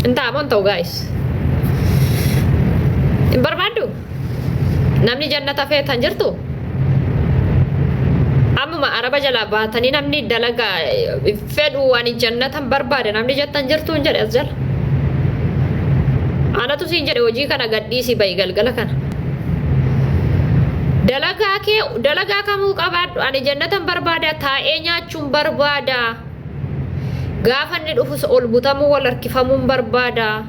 Hin ta'a moo hin ta'u gaa'is? Hin barbaaddu? Namni jannata feetu hin jirtu? Ammuma araba jalaa baatanii namni dalaga eh, fedhu waan jannatan barbaade namni jettan jirtu hin jedhe as jala. Anatu siin jedhe hojii kana gadhiisii ba'i galgala kana. Dalagaa kee dalagaa kamuu qabaadhu ani jannatan barbaada taa'ee nyaachuun barbaada. Gaafa inni dhufus ol butamuu wal harkifamuun barbaada.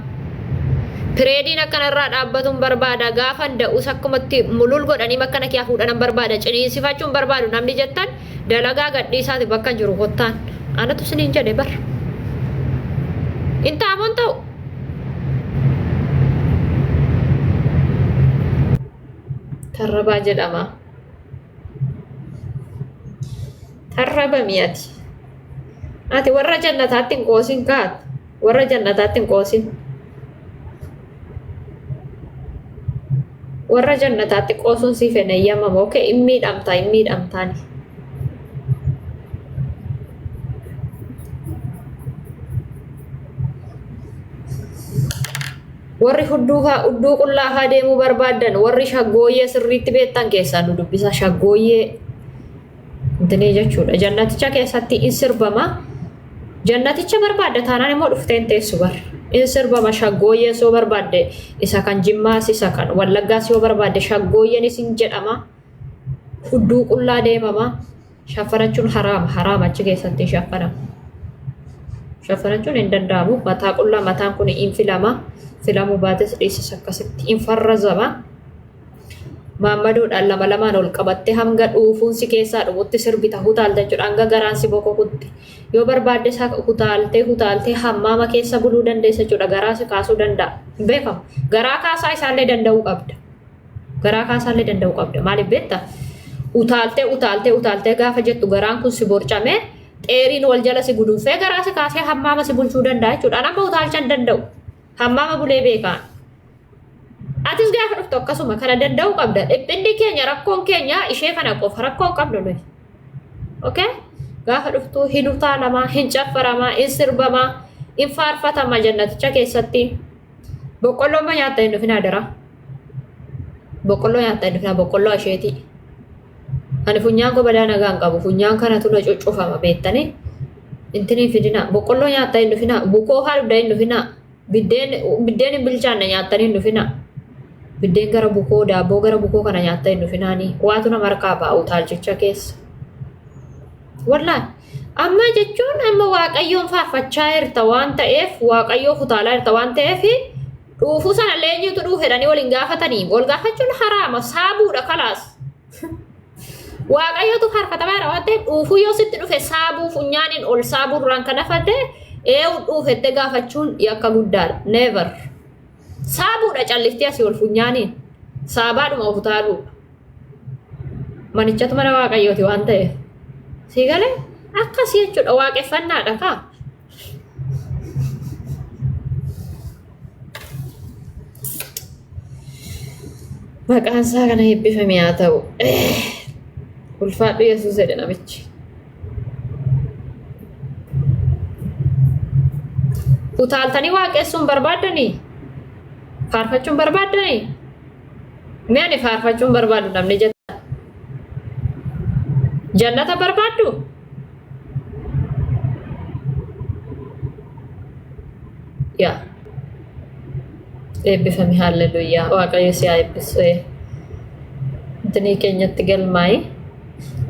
Pireediin akka narraa dhaabbatuun barbaada. Gaafa da'us akkumatti mulul godhanii bakka na kiyaa fuudhanan barbaada. Ciniinsifachuun barbaadu namni jettan dalagaa gadhiisaati bakka jiru kottaan. Anatu siniin jedhe bar. Hin taamoon ta'u. Tarrabaa jedhama. Tarrabami ati. Ati warra jannataatti hin qoosin kaat. Warra jannataatti hin qoosin. Warra jannataatti qoosuun siif hin eeyyamamu. Okee hin miidhamta hin miidhamtaani. warri hudduu haa hudduu qullaa haa deemuu barbaadan warri shaggooyyee sirriitti beektan keessaa nu dubbisa shaggooyyee Dinii jechuudha. Jannaticha keessatti in sirbama. Jannaticha barbaadda taanaan immoo dhuftee hin teessu bar. In sirbama shaggooyyees yoo barbaadde isa kan jimmaas isa kan wallaggaas yoo barbaadde shaggooyyeenis in jedhama. Hudduu qullaa deemama. Shaffanachuun haraama. Haraama achi keessatti hin shaffanama. Shaffanachuun hin danda'amu. Mataa qullaa mataan kun in filama. Filamuu baates dhiisis akkasitti in farrazama. maammadoodhaan lama lamaan ol qabattee hanga dhuufuun si keessaa dhufutti sirbita hutaalta jechuudha hanga garaan si bokokutti yoo barbaadde isaa hutaaltee hutaaltee hammaama keessa buluu dandeessa jechuudha garaa si kaasuu danda'a beekama garaa kaasaa isaallee danda'uu qabda garaa kaasaallee danda'uu qabda maaliif beekta utaaltee utaaltee utaaltee gaafa jettu garaan kun si borcamee xeeriin wal jala si guduunfee garaa si kaasee hammaama si bulchuu danda'a jechuudha amma utaalcha hin danda'u. Hammaama bulee beekaa. Atis gaafa dhuftu akkasuma kana danda'uu qabda. Dhiphinni keenya rakkoon keenya ishee kana qofa rakkoon qabdu nuyi. Okay? Gaafa dhuftu hin utaalamaa, hin caffaramaa, hin sirbamaa, hin faarfatamaa jannaticha keessatti. Boqqolloon ma nyaatta hin dhufin adaraa. Boqqolloo nyaatta hin dhufin boqqolloo asheetii. Ani funyaan koo badaa nagaan qabu. Funyaan kanatu na cuccufama beektanii. Intinii fidinaa. Boqqolloo nyaattaa hin dhufinaa. Bukoo haa dhugdaa hin dhufinaa. Biddeen biddeen hin bilchaanne nyaattanii hin dhufinaa. Biddeen gara bukoo daabboo gara bukoo kana nyaattaa hin dhufinaanii. Waatu nama harkaa ba'a utaalchicha keessa. Wallaan amma jechuun amma waaqayyoon faarfachaa jirta waan ta'eef waaqayyoo kutaalaa jirta waan ta'eef dhuufuu sana leenyuutu dhuufedhanii waliin gaafatanii wal gaafachuun haraama saabuudha kalaas. Waaqayyotu harkatameera waan ta'eef dhuufuu yoo sitti dhufe saabuu funyaaniin ol saabuu duraan kan hafate eewu dhuufette gaafachuun yakka guddaadha. Never. Saabuudha calliftee asii ol funyaaniin saabaadhuma of utaaluudha. Manichatu mana waaqayyooti waan ta'eef. Sii galee akkas jechuudha waaqeffannaadha kaa. Maqaan isaa kana eebbifame haa ta'u. Ulfaadhu Yesuus jedhe namichi. Utaaltanii waaqessuun barbaaddanii? Faarfachuun barbaaddanii? Mee ani faarfachuun barbaadu namni jettan. Jannata barbaaddu? yaa eebbifame haalleluuyaa waaqayyo si haa eebbisu ee. Intinii keenyatti galmaa'i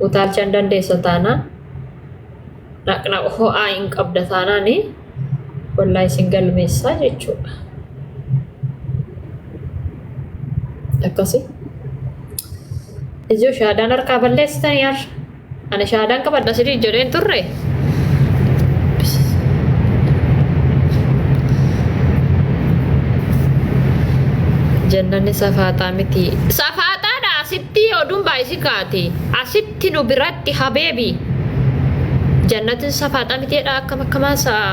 utaalcha hin dandeessa taanaan dhaqna ho'aa hin qabda taanaan wallaa isin galmeessaa jechuudha. Akkasi. Ijoo shaadaan harkaa balleessitanii har'a. Ani shaadaan qabadha sirii jedheen turre. Jannanni safaaxaa miti. Safaaxaadha asitti oduun baay'isi kaati. Asitti nu biratti habeebi. Jannatin safaaxaa miti jedha akkam akkamaa sa'a.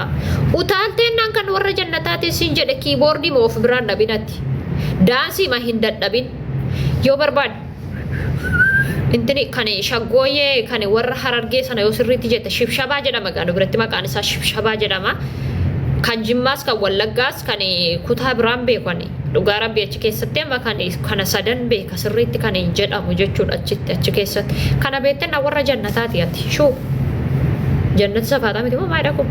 Utaalteen naan kan warra jannataatiin siin jedhe kiiboordii ma of biraan dhabinatti. Daansii ma hin dadhabin. Yoo barbaade. Intini kan shaggooyyee kan warra harargee sana yoo sirriitti jette shibshabaa jedhama gaanu biratti maqaan isaa shibshabaa jedhama. Kan jimmaas kan wallaggaas kan kutaa biraan beeku ani dhugaa rabbii achi keessatti amma kan kana sadan beeka sirriitti kan jedhamu jechuudha achitti achi keessatti. Kana beekte na warra jannataati ati shuu jannata safaataa miti moo maayidha kun.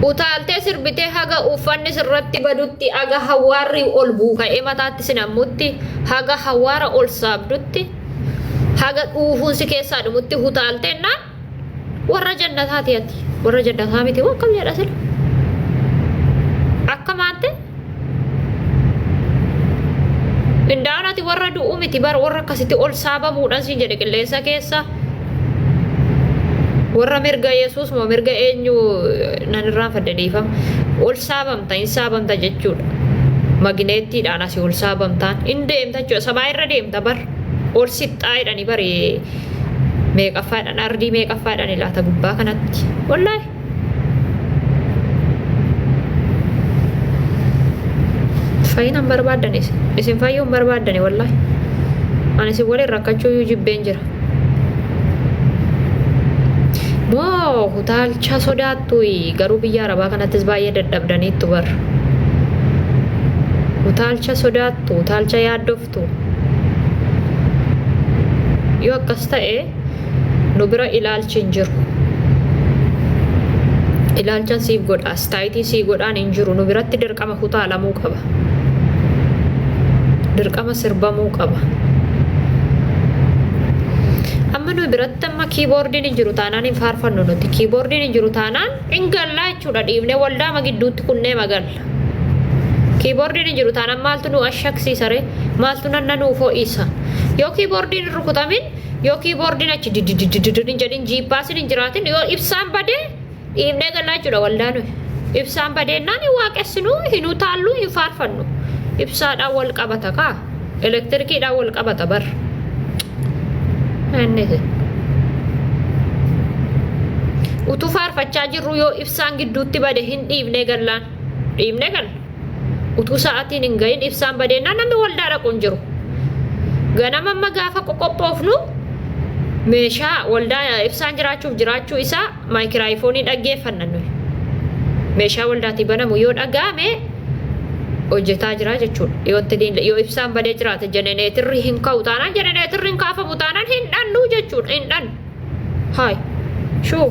Utaaltee sirbitee haga uffanni sirratti badutti. Tti aga hawaarri ol buuka'ee mataatti sin hammutti, haga hawaara ol saabdutti, haga dhuufuun si keessaa dhumutti hutaalte jennaan warra jannataati ati. Warra jannataa miti moo akkam jedha sila? Akka maante? Indaa'an ati warra du'u miti bara warra akkasitti ol saabamuudhaan siin jedhe qilleensa keessa. warra mirga yesuus moo mirga eenyu nan irraanfadhe dhiifama ol saabamta hin saabamta jechuudha magineettiidhaan asii ol saabamtaan hin deemta jechuudha sabaa irra deemta bar ol sixxaa'edhani bari meeqaffaadhaan ardii meeqaffaadhaan ilaata gubbaa kanatti wallaahi fayyina hin barbaaddan isin isin fayyuu hin barbaaddani wallahi ani isin waliin rakkachuu iyyuu jibbeen jira moo utaalcha sodaattuyi garuu biyya arabaa kanattis baay'ee dadhabdaniittu bar utaalcha sodaattu utaalcha yaaddoftu jirtu. Yoo akkas ta'e nu bira ilaalchi hin jiru. Ilaalchan siif godha, astaayitii sii godhaan hin jiru. Nu biratti dirqama kutaalamuu qaba. Dirqama sirbamuu qaba. Amma nu biratti amma kiiboordiin hin jiru taanaan hin faarfannu nuti. Kiiboordiin hin jiru taanaan hin gallaa jechuudha dhiibnee waldaama gidduutti kunnee magal. kiiboordiin hin jiru taanaan maaltu nu ashaksiisa ree maaltu nanna nuuf ho'isa yoo kiiboordiin hin rukutamin yoo kiiboordiin achi didididididin hin jedhin jiippaasin hin jiraatin yoo ibsaan badee dhiibnee gallaa jechuudha waldaa nuyi ibsaan badeennaan hin waaqessinu hin utaallu hin faarfannu ibsaadhaan wal qabata kaa Elektirikiidhaan wal qabata bar. Inni jedhe. Utuu faarfachaa jirru yoo ibsaan gidduutti bade hin dhiibnee gallaan. Dhiibnee galla. Utuu sa'aatiin hin gahin ibsaan badeennaan namni waldaa dhaqu hin jiru. Ganama amma gaafa qoqophoofnu meeshaa waldaa ibsaan jiraachuuf jiraachuu isaa maayikiraayifoonii dhaggeeffanna nuyi. Meeshaa waldaatii banamu yoo dhaga'ame hojjetaa jira jechuudha. Yoo itti diin- yoo ibsaan badee jiraate jeneneetirri hin ka'u taanaan jeneneetirri hin kaafamu taanaan hin dhannu jechuudha. Hin dhannu. Haay. Shuu.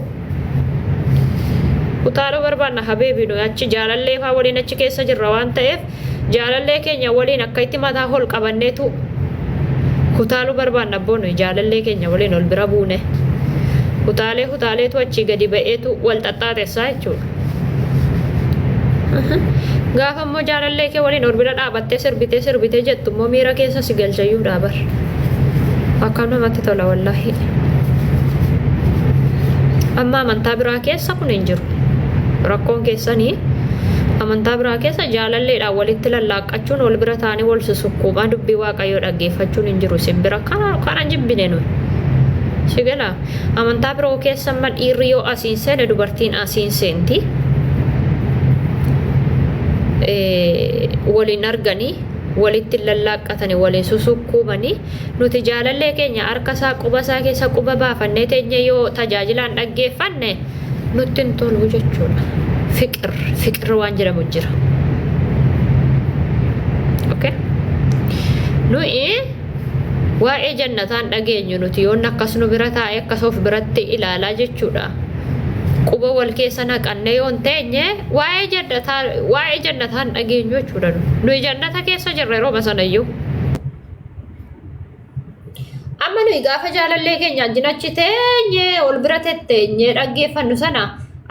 Utaaluu barbaanna habeebii nuyi achi jaalallee faa waliin achi keessa jirra waan ta'eef Jaalallee keenya waliin akkaitti mataa hol qabanneetu hutaaluu barbaanna abboo nuyi jaalallee keenya waliin ol bira buune hutaalee hutaaleetu achii gadi ba'eetu wal xaxxaaxessaa jechuudha. Gaafa immoo jaalallee kee waliin ol bira dhaabattee sirbitee sirbitee jettu immoo miira keessa si galchayyuu dhaabar. Akkam namatti tola wallaahi. Amma amantaa biraa keessa kun hin jiru. Rakkoon keessanii amantaa biraa keessa Jecha jaalalleedhaan walitti lallaaqqachuun wal bira taa'anii wal susukkuumaa dubbii waaqayyoo dhaggeeffachuun hin jiru isin bira kana kana jibbine nu. Si gala amantaa biroo keessa amma dhiirri yoo asiin seene dubartiin asiin seenti. Waliin arganii walitti hin lallaaqqatanii waliin susukkuumanii nuti jaalallee keenya harka isaa quba isaa keessa quba baafannee teenye yoo tajaajilaan dhaggeeffanne Nutti hin toluu jechuudha. Fiqir, fiqir waan jedhamu jira. Okay? Nuyi waa'ee jannataan dhageenyu nuti yoon akkas nu bira taa'e akkas of biratti ilaalaa jechuudha. Quba wal keessa naqannee yoon teenye waa'ee jannataa waa'ee jannataan dhageenyu jechuudha. Nuyi jannata keessa jirra yeroo masanayyuu. Amma nuyi gaafa jaalallee keenya wajjin achi teenye ol bira tetteenye dhaggeeffannu sana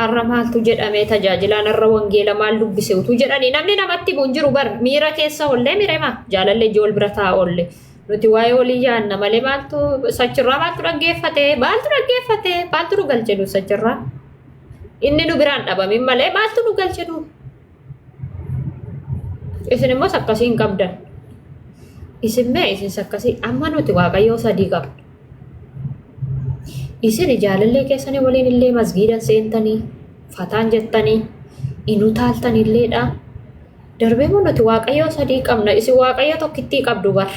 har'a maaltu jedhame tajaajilaan har'a wangeela maal dubbise utuu jedhanii namni namatti bu'u hin jiru bar miira keessa ollee mirema jaalallee ijoo ol bira ta'a olle nuti waa'ee olii yaanna malee maaltu sachirraa maaltu dhaggeeffate maaltu dhaggeeffate maaltu nu galche nu sachirraa inni nu biraan dhabamin malee maaltu nu galche nu. Isin immoo sakkasii hin qabdan. Isin mee isin sakkasii amma nuti waaqayyoo sadii qabna. Isin jaalallee keessanii waliin illee masgiidan seentanii fataan jettanii hin utaaltan illeedha. Darbee immoo nuti waaqayyoo sadii qabna. Isin waaqayyoo tokkittii qabdu bara.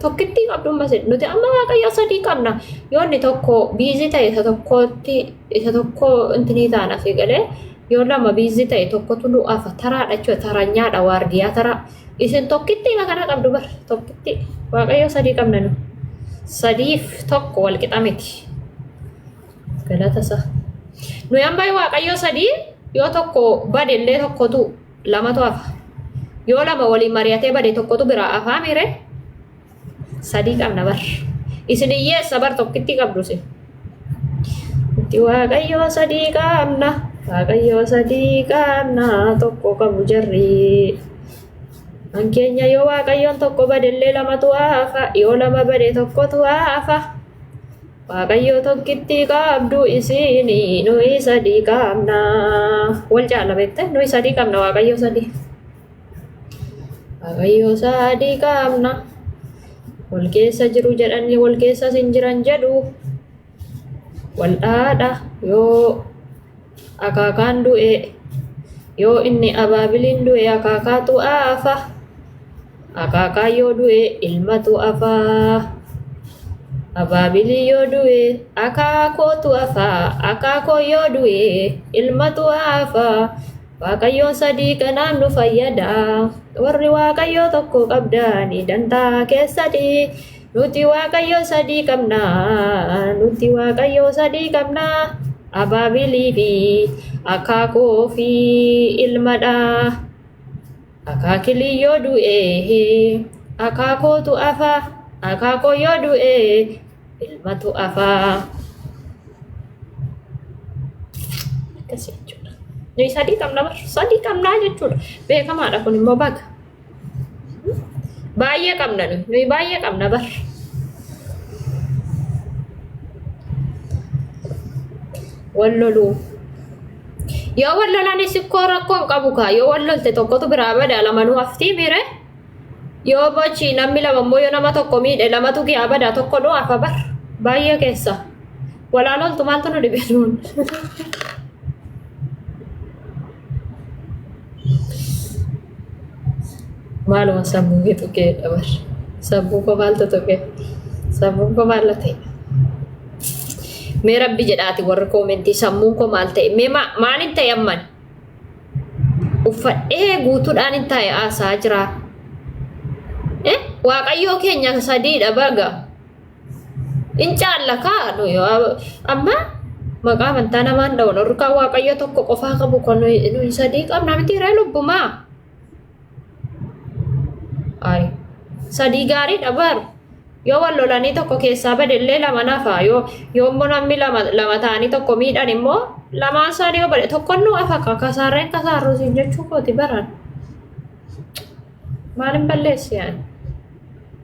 Tokkittii qabdu ammas nuti amma waaqayyoo sadii qabna. Yoo inni tokko biizii ta'e isa tokkotti isa tokko intinii taana fi galee Yoo lama biizii ta'e tokkotu du'aafa taraadha jechuudha taranyaadha waardiyaa taraa. Isin tokkitti ima kana qabdu bar tokkitti waaqayyoo sadii qabna nu. Sadiif tokko wal qixa miti. Galata isaa. Nuyi amma waaqayyoo sadii yoo tokko bade illee tokkotu lamatu hafa. Yoo lama waliin mari'atee bade tokkotu biraa afaa miire sadii qabna bar isin hiyyeessa bar tokkitti qabdu isin itti waaqayyoo sadii qabna waaqayyoo sadii qabna tokko qabu jarrii kan keenya yoo waaqayyoon tokko badellee lamatu hafa yoo lama bade tokkotu hafa waaqayyoo tokkitti qabdu isin nuyi sadii qabna wal caala beekte nuyi sadii qabna waaqayyoo sadii Waaqayyoo isaa adii qaamna. Wal keessa jiru jedhanii wal keessas hin jiran jedhu. Wal dhaadha yoo akaakaan du'e yoo inni abaabiliin du'e akaakaatu afa. Akaakaan yoo du'e ilmatu afa. Abaabilii yoo du'e akaakootu afa. Akaakoo yoo du'e ilmatu afa. Waaqayyoon sadii kanaan nu fayyada. Warri Waaqayyoo tokko qabdani dantaa keessati. Nuti Waaqayyoo sadii qabna. Nuti Waaqayyoo sadii qabna. Abaabilii fi akaakoo fi ilmadha. Akaakilii yoo du'e akaakootu afa. Akaakoo yoo du'e Ilmatu afaa. Akkas jechuudha. Nuyi sadii qabna bar. Sadii qabnaa jechuudha. Beekamaadha kun immoo baga. Baay'ee qabna nuyi. Nuyi baay'ee qabna bar. Wal loluu. Yoo wal lolanis ikkoo rakkoon qabu kaa. Yoo wal lolte tokkotu biraa bada lamanuu haftii miire. Yoo bochi namni lama immoo yoo nama tokko miidhe lamatu kee abada tokko dhoo afa bar baay'ee keessa walaa loltu maaltu nu dhibe nuun. Maaluma sammuu kee tuqee dabar sammuu koo maaltu tuqe sammuun koo maal ta'e. Mee rabbi jedhaati warri koomentii sammuun koo maal ta'e mee maaliin ta'e amman uffadhee guutuudhaan hin taa'e aasaa jira. Eh, Waaqayyoo keenya sadiidha baga. In caalla kaa nu yoo- amma maqaa amantaa namaan dha'u warri kaan waaqayyo tokko qofaa qabu kan nuyi nuyi sadii qabna miti ree lubbumaa. Gaarii. Sadii gaariidha baaru. Yoo wal lolanii tokko keessaa badellee lama nafa. Yoo yoo immoo namni lama lama ta'anii tokko miidhan immoo lamaan isaanii yoo bade tokkon nu afa ka kasaarreen kasaarruu siin jechuu kooti baraan. Maalin balleessi yaani?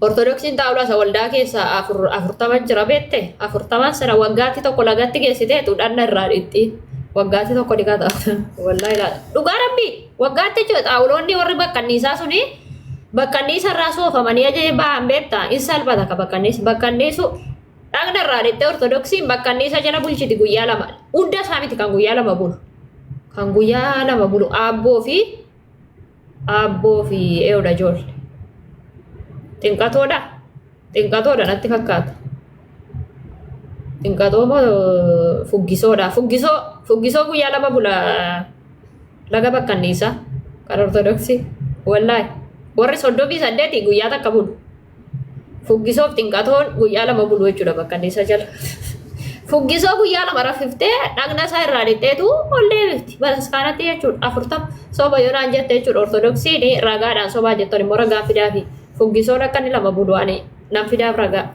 Ortodoksiin xaawulaa isa waldaa keessaa afurtama jira beekte afurtaman sana waggaatti tokko lagatti geessiteetu dhanna irraa dhiqxi waggaatti tokko dhiqaa taata waldaa ilaala dhugaa rabbi waggaatti jechuudha xaawuloonni warri baqqanniisaa suni baqqanniisa irraa soofamanii ajajee ba'an beekta in salphata ka baqqanniis baqqanniisu dhagna irraa dhiqxee ortodoksiin baqqanniisa jala bulchiti guyyaa lama hunda isaa miti kan guyyaa lama bulu kan guyyaa lama bulu aabboo fi Aabboo fi eeyoodha ijoolle. Xinqatoodha? Xinqatoodha natti fakkaata. Xinqatoo moo fuggisoodha? Fuggisoo fuggisoo guyyaa lama bula laga bakkanniisa kan ortodoksii. Wallaahi warri soddomii saddeeti guyyaa takka bulu. Fuggisoof xinqatoon guyyaa lama bulu jechuudha bakka inni isa jala. Fuggisoo guyyaa lama raffiftee dhagna isaa irraa lixxeetu ol deebifti. Bataskaanatti jechuudha afurtama soba yoo naan jette jechuudha ortodoksiin ragaadhaan sobaa jettan immoo ragaa fidaafi. Fuggisoon akka inni lama bulu ani nan fidaaf ragaa.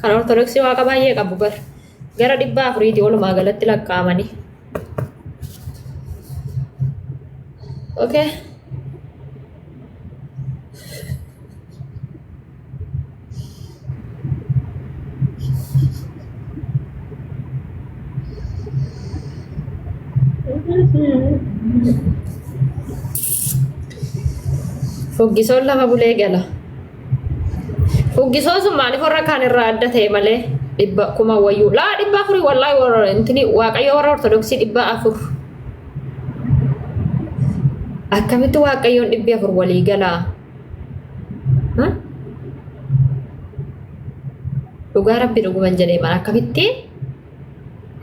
Kan Ortodoksii waaqa baay'ee qabu bar. Gara dhibba afuriitii walumaa galatti lakkaa'amanii. Okay. Foggisoon lafa bulee gala. Uggisoon sun maaliif warra kaan irraa adda ta'e malee dhibba kuma wayyuu laa dhibba afurii wallaahi warra intini waaqayyo warra ortodoksii dhibba afur akkamitti waaqayyoon dhibbi afur walii galaa Ha? dhugaa rabbi dhuguman jedhee mana akkamitti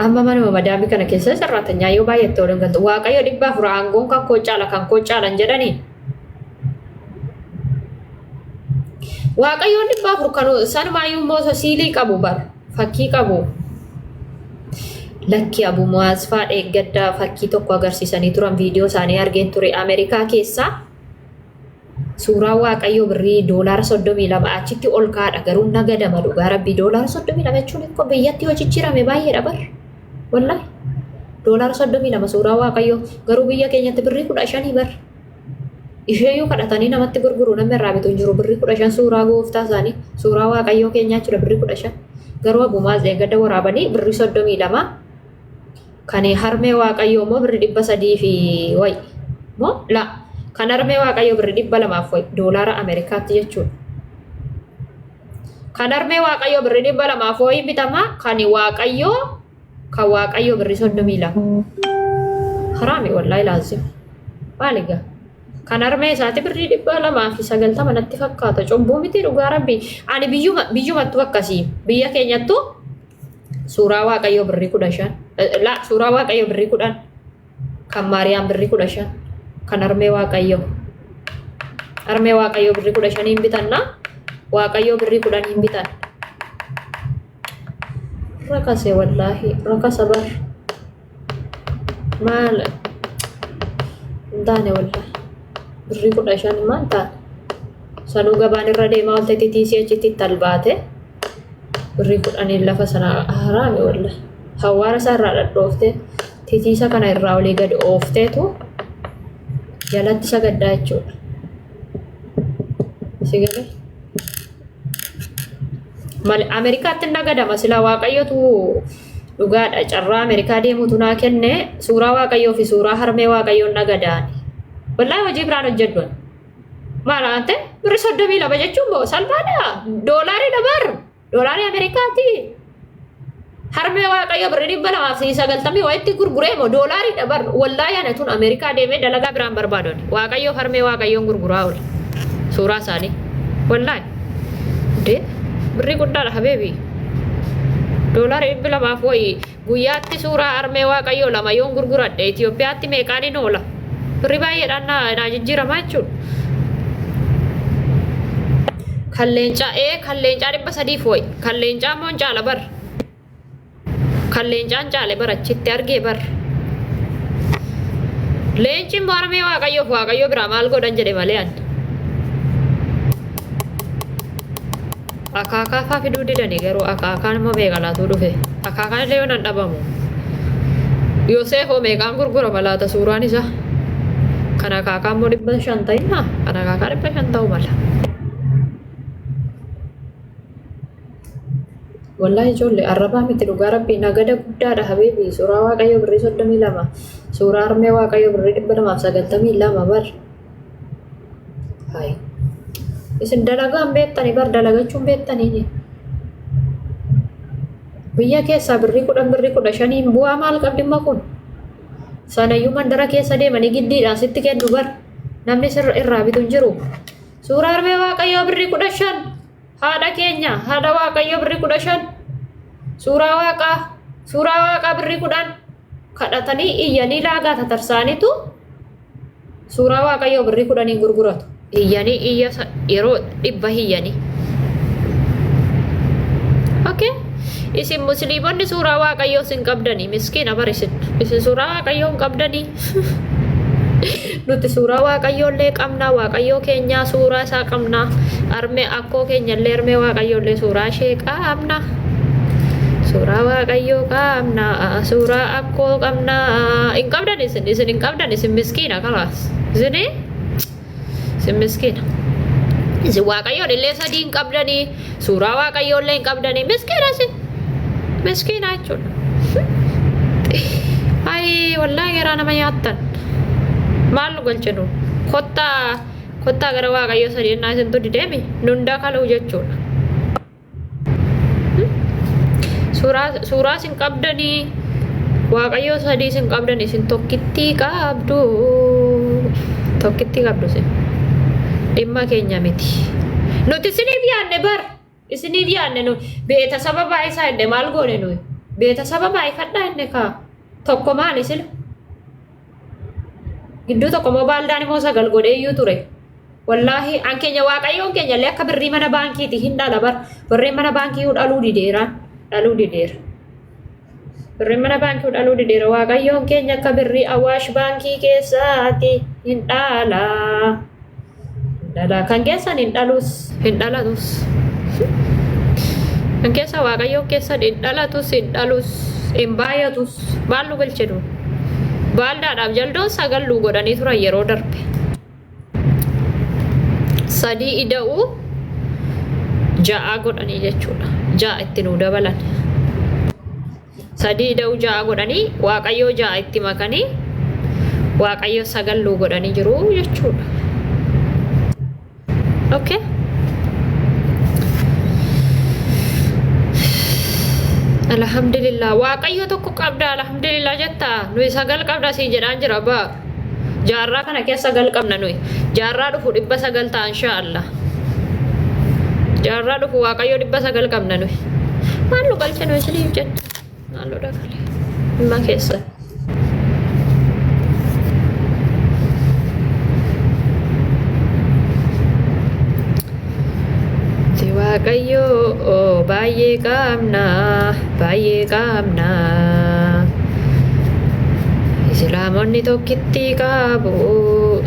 amma manuma madaamii kana keessa sarraatan nyaayoo baay'attee waliin galtu waaqayyo dhibba afur aangoon kan koo caala kan koo caalan jedhanii Waaqayyoon dhibba afur kan sanumaayyuu immoo siilii qabu bar fakkii qabu. Lakki Abu Mu'aaz faa eeggadda fakkii tokko agarsiisanii turan viidiyoo isaanii argeen ture Ameerikaa keessaa suuraa waaqayyoo birrii doolaara soddomii lama achitti ol kaadha garuu nagadama dhugaa rabbii doolaara soddomii lama jechuun biyyaatti yoo jijjiirame baay'eedha bar. Wallahi. Doolaara soddomii lama suuraa waaqayyoo garuu biyya keenyatti birrii kudha shanii bar. Isheeyyuu kadhatanii namatti gurguru namni irraa bitu hin jiru birrii kudha shan suuraa gooftaa isaanii suuraa waaqayyoo keenyaa jechuudha birrii kudha shan. Garuu abbumaa gadda waraabanii birrii soddomii lama kan harmee waaqayyoo immoo birrii dhibba sadii fi wayi. Moo laa kan harmee waaqayyoo birrii dhibba lamaaf wayi doolaara Ameerikaatti jechuudha. Kan harmee waaqayyoo birri dhibba lamaa fooyin bitama kan waaqayyoo kan waaqayyoo birri soddomii lama. Haraami wallaahi laazim. Maali gaa? Kan harmee isaati birri dhibba lamaa fi sagaltama natti fakkaata. Cubbuu miti dhugaa rabbi. Ani biyyuma biyyumattu akkasii. Biyya keenyattu suuraa waaqayyoo birri kudha shan. Laa suuraa waaqayyoo birri kudhan. Kan Maariyaam birri kudha shan. Kan Armee Waaqayyoo. Armee Waaqayyoo birri kudha shanii hin bitanna. Waaqayyoo birri kudhan hin bitan. Rakase wallaahi. Rakasa bar. Maal hin taane wallaahi. Birri kudha shan maal taane. Sanuu gabaan irra deemaa olte titiisii achitti talbaate. Birri kudhaniin lafa sana haraame wallaahi. Hawaara isaa irraa dhadhoofte. Titiisa kana irraa olii gad oofteetu jalatti sagaddaa jechuudha. Sigale. Mal Ameerikaatti hin nagadama sila waaqayyotu dhugaadha carraa Ameerikaa deemutu naa kenne suuraa waaqayyoo fi suuraa harmee waaqayyoon nagadaan. Wallaahi hojii biraan hojjedhu. Maal aante birri soddomii lama jechuun moo salphaadha doolaariidha barra. Doolaarri Ameerikaati harmee waaqayyo birri dhibba lamaa fi sagaltamii wayitti gurguree moo doolaarri dhabar wallaa yaana tun Ameerikaa deemee dalagaa biraan barbaadon waaqayyo harmee waaqayyoon gurguraa oole suuraa isaanii wallaa dee birri guddaadha habeebii doolaarri dhibbi lamaaf wayii Guyyaatti suuraa harmee Waaqayyoo lama yoon gurguradhe Itoophiyaatti meeqaanin oola? Birrii baay'eedhaan naa jijjiiramaa jechuudha. Kan leencaa ee kan leencaa dhibba sadiif wayi. Kan leencaa immoo hin caala bar. Kan leencaa hin caale bar achitti argee bar. Leenci immoo harmee Waaqayyoof Waaqayyoo biraa maal godhan jedhe malee ani. Akaakaa faa fiduu didani garuu akaakaan immoo meeqa laatuu dhufe akaakaan illee yoon dhabamu yoo see hoo meeqaan gurgurama laata suuraan isaa kan akaakaa immoo dhibba shan ta'inna kan akaakaa dhibba shan ta'u mala. Wallaahi ijoollee arrabaa miti dhugaa rabbii nagada guddaadha habiibi suuraa waaqayyoo birrii soddomii lama suuraa armee waaqayyoo birrii dhibba lamaaf sagaltamii lama bar. Hayi. Isin dalagaa hin beektanii bar dalagachuu hin beektanii biyya keessaa birrii kudhan birrii kudha shaniin bu'aa maal qabdimma kun sanayyuu mandara keessa deemanii giddiidhaan sitti kennu bar namni sirra irraa bitu hin jiru suuraa harmee waaqayyoo birrii kudha shan haadha keenya haadha waaqayyoo birrii kudha shan suuraa waaqaa suuraa waaqaa birrii kudhan kadhatanii iyyanii laagaa tatarsaanitu suuraa waaqayyoo birrii kudhanii gurguratu. Iyyanii iyya yeroo dhibba iyyanii. Okay? Isin musliimonni suuraa waaqayyoo sin qabdanii miskiina bar isin. Isin suuraa waaqayyoo hin qabdanii. Nuti suuraa Waaqayyoo illee qabna, Waaqayyoo keenyaa suuraa isaa qabna, armee akkoo keenya illee armee Waaqayyoo illee suuraa ishee qabna. Suuraa Waaqayyoo qabna, suuraa akkoo qabna. Hin qabdan isin, isin hin qabdan isin miskiina kalaas. Isinii? Isin miskiina. Isin Waaqayyoon illee sadii hin qabdanii. Suuraa waaqayyoo illee hin qabdanii miskiina isin. Miskiina jechuudha. Ayii wallaahi garaa nama nyaattan. Maal nu galchinu? Kottaa kottaa gara waaqayyoo sadii ennaa isintu dideemi nun dakaluu jechuudha. Suuraa suuraa qabdanii waaqayyoo sadii isin qabdan isin tokkittii qabdu tokkittii qabdu isin dhimma keenya miti nuti isiniif yaadne bar isiniif yaadne nu beeta saba baay'isaa inne maal goone nuyi beeta saba baay'ifadhaa inne kaa tokko maali sila Gidduu tokko immoo baaldaan immoo sagal godhee iyyuu ture. Wallaahi an keenya waaqayyoon keenya illee akka birrii mana baankiiti hin dhala bar birriin mana baankii iyyuu dhaluu dideera dhaluu dideera. Birriin mana baankii iyyuu dhaluu dideera waaqayyoon keenya akka birrii awaash baankii keessaati hin dhala. dhala kan keessan hin dhalus hin dhalatus kan keessa waaqayyoo keessan hin dhalatus hin dhalus hin baay'atus maal nu galche nu baaldaadhaaf jaldoon sagal nu godhanii turan yeroo darbe sadii ida'uu ja'a godhanii jechuudha ja'a itti nu dabalan Sadii ida'uu ja'a godhanii waaqayyoo ja'a itti makanii waaqayyoo sagal nuu godhanii jiru jechuudha. Okay. Alhamdulillah waaqayyoo tokko qabda alhamdulillah jetta nuyi sagal qabda sii jedhaan jira baa. Jaarraa kana keessa gal qabna nuyi. Jaarraa dhufu dhibba sagal ta'a inshaa Allah. Jaarraa dhufu waaqayyo dhibba sagal qabna nuyi. Maal nu galche nuyi isiniif jette. Maal nu dhagale. Dhimma keessa. Si waaqayyoo baay'ee qaamna baay'ee qaamna Islaamonni tokkitti qaabu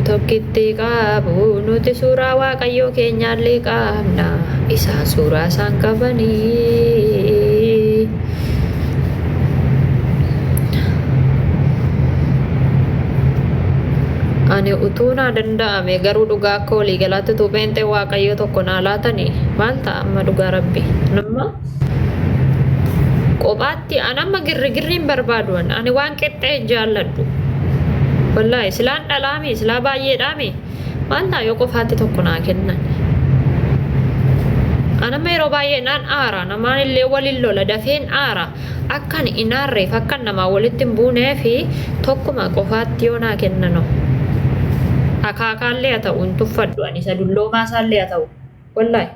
tokkitti qaabu nuti suuraa waaqayyoo keenyaallee qaamna isaan suuraa isaan qabanii ani utuu naa danda'ame garuu dhugaa akka waliigalaatti utuu pheenxee waaqayyoo tokko naa laatani maal ta'a amma dhugaa rabbi nama kophaatti an amma girrigirri hin barbaadu ani waan qixxee jaalladhu wallaahi silaan dhalaami silaa baay'eedhaami maal naa yoo qofaatti tokko naa kennan anama yeroo baay'ee naan aara namaan illee waliin lola dafeen aara akkan hin aarreef akkan namaa walitti hin buunee fi tokkuma qofaatti yoo naa kennano akaakaallee haa ta'u hin tuffadhu ani isa dulloomaa isaallee haa ta'u wallahi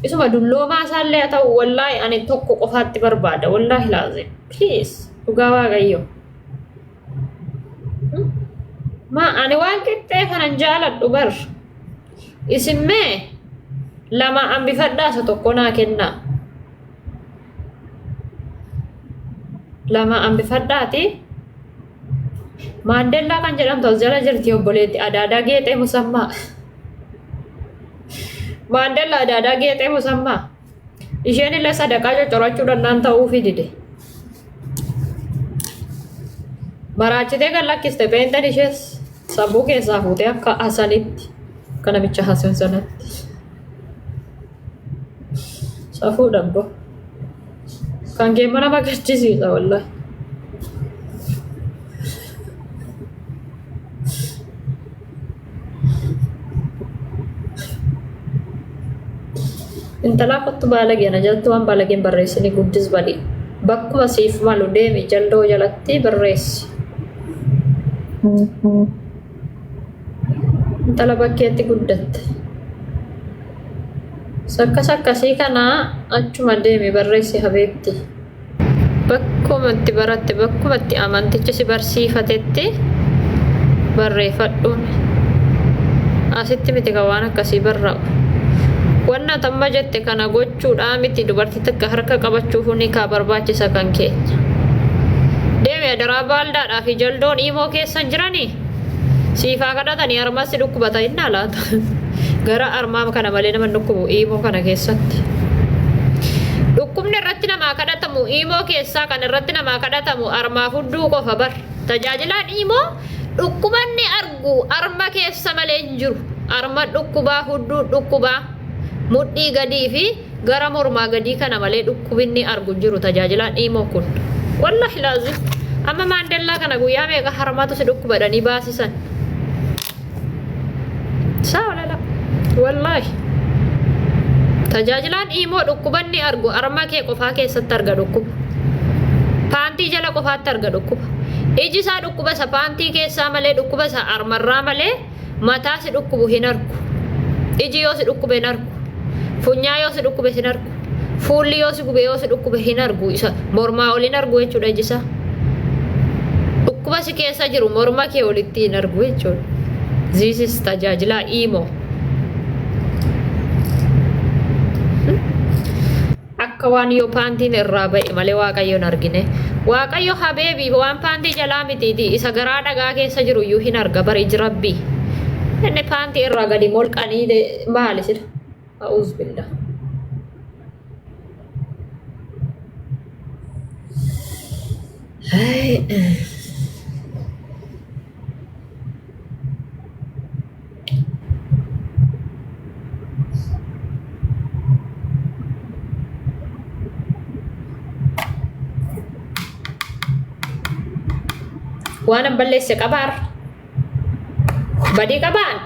isuma dulloomaa isaallee haa ta'u wallahi ani tokko qofaatti barbaada wallahi laazim please dhugaa waaqayyoo. Ma ani waan qixxee kanan jaaladhu bar. Isin mee lama hambifadhaa isa tokko naa kennaa. Lama hambifadhaati. Maandellaa kan jedhamtu as jala jirti obboleetti adaadaa geexee musammaa. Maandellaa adaadaa geexee musammaa. Isheen illee sadaqaa coccorachuu danda'an ta'uufii dide. Maraachitee kan lakkiste peenxeen ishees sammuu keessaa fuutee akka asalitti akka namicha hasan sanatti. Safuu dhabbo. Kan kee mana magarchisiisa wallahi. intalaa kottu baalagee na jalatti waan baalageen barreessini guddis badii bakkuma siif malu deemi jaldoo jalatti barreessi intala bakkeetti guddatte sakkas akkasii kanaa achuma deemi barreessi habeetti Bakkuma itti baratte, bakkuma itti amantichi si barsiifatetti barreeffadhuun. Asitti miti kan waan akkasii barraa'u. Wanna tamma jette kana gochuudhaa miti dubartii takka harka qabachuufuu ni kaa barbaachisa kan keenya. Deemi adaraa baaldaadhaa fi jaldoon iimoo keessa hin jiranii? Siif haa kadhatanii armaan si dhukkubata innaa laata? Gara armaama kana malee nama dhukkubu iimoo kana keessatti. Dhukkubni irratti namaa kadhatamu iimoo keessaa kan irratti namaa kadhatamu armaa fudduu qofa bar. Tajaajilaan iimoo dhukkubanni argu arma keessa malee hin jiru. Arma dhukkubaa, hudduu dhukkubaa, mudhii gadii fi Gara mormaa gadii kana malee dhukkubinni argu hin jiru tajaajilaan imo kun. Wallahi laazim amma maandellaa kana guyyaa meeqa harmatu si dhukkuba jedhanii baasisan. Saa walala. Wallahi. Tajaajilaan imo dhukkubanni argu arma kee qofaa keessatti arga dhukkuba. Paantii jala qofaatti arga dhukkuba. Iji isaa dhukkuba isa paantii keessaa malee dhukkuba isa armarraa malee mataa si dhukkubu hin arku iji yoo si dhukkube hin arku funyaa yoo si dhukkube sin arku fuulli yoo si gube yoo si dhukkube hin argu isa mormaa ol hin argu jechuudha iji isaa dhukkuba si keessa jiru morma kee olitti hin argu jechuudha ziisis tajaajilaa iimoo Akka waan yoo paantiin irraa ba'e malee Waaqayyo hin argine. Waaqayyo habeebi waan paantii jalaa mitiiti isa garaa dhagaa keessa jiru iyyuu hin arga bar iji rabbii. Inni paantii irraa gadi molqanii de- maali sila? A'uuz billah. Hai. Waanan balleesse qabaar. Badii qabaan.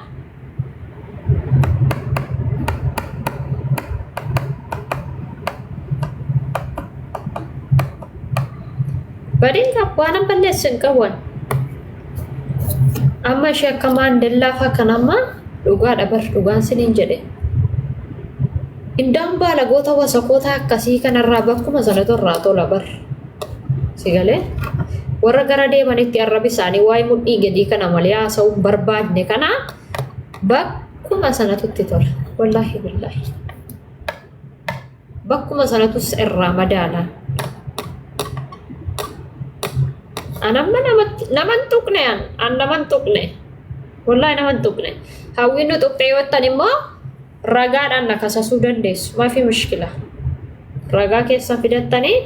Badeen abbaan hin balleessu hin qabu. Amma ishee akka maandellaa fa'aa kan amma dhugaa dhabar dhugaan siniin jedhe. Indaan baalagoota wasakootaa akkasii kanarraa bakkuma sanatu irraa tola bar. si galee warra gara deemanitti arrabi isaanii waa'ee mudhii gadii kana malee haasa'uu hin barbaadne kana bakkuma sanatu itti tola wallaahi billaahi bakkuma sanatus irraa madaala an amma namatti naman tuqne an an naman tuqne wallaahi naman tuqne hawwiin nu tuqxee yoo ta'an immoo ragaadhaan na kasasuu dandeessu mafi mushkila ragaa keessan fidattanii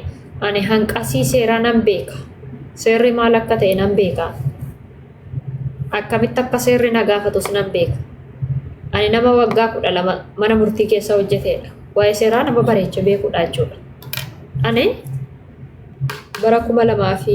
ani hanqasii seeraa nan beeka seerri maal akka ta'e nan beeka akkamitti akka seerri na gaafatus nan beeka ani nama waggaa kudha lama mana murtii keessa hojjeteedha waa'ee seeraa nama bareecha beekuudha jechuudha ani bara kuma lamaa fi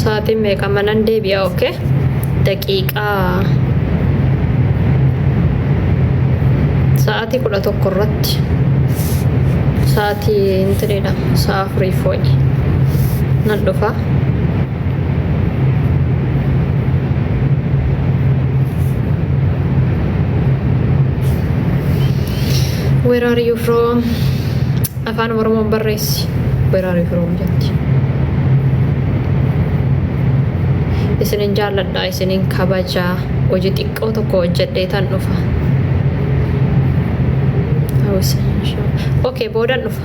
sa'aatiin meeqa manan deebi'a oke daqiiqaa sa'aatii kudha tokko irratti sa'aatii intireedha sa'a afurii fooyi nan dhufa. Where are you from? Afaan Oromoon barreessi. Where are you from jetti. Isinin jaalladha, isinin kabaja. Hojii xiqqoo tokko hojjedhee tan dhufa. Okay, boodan dhufa.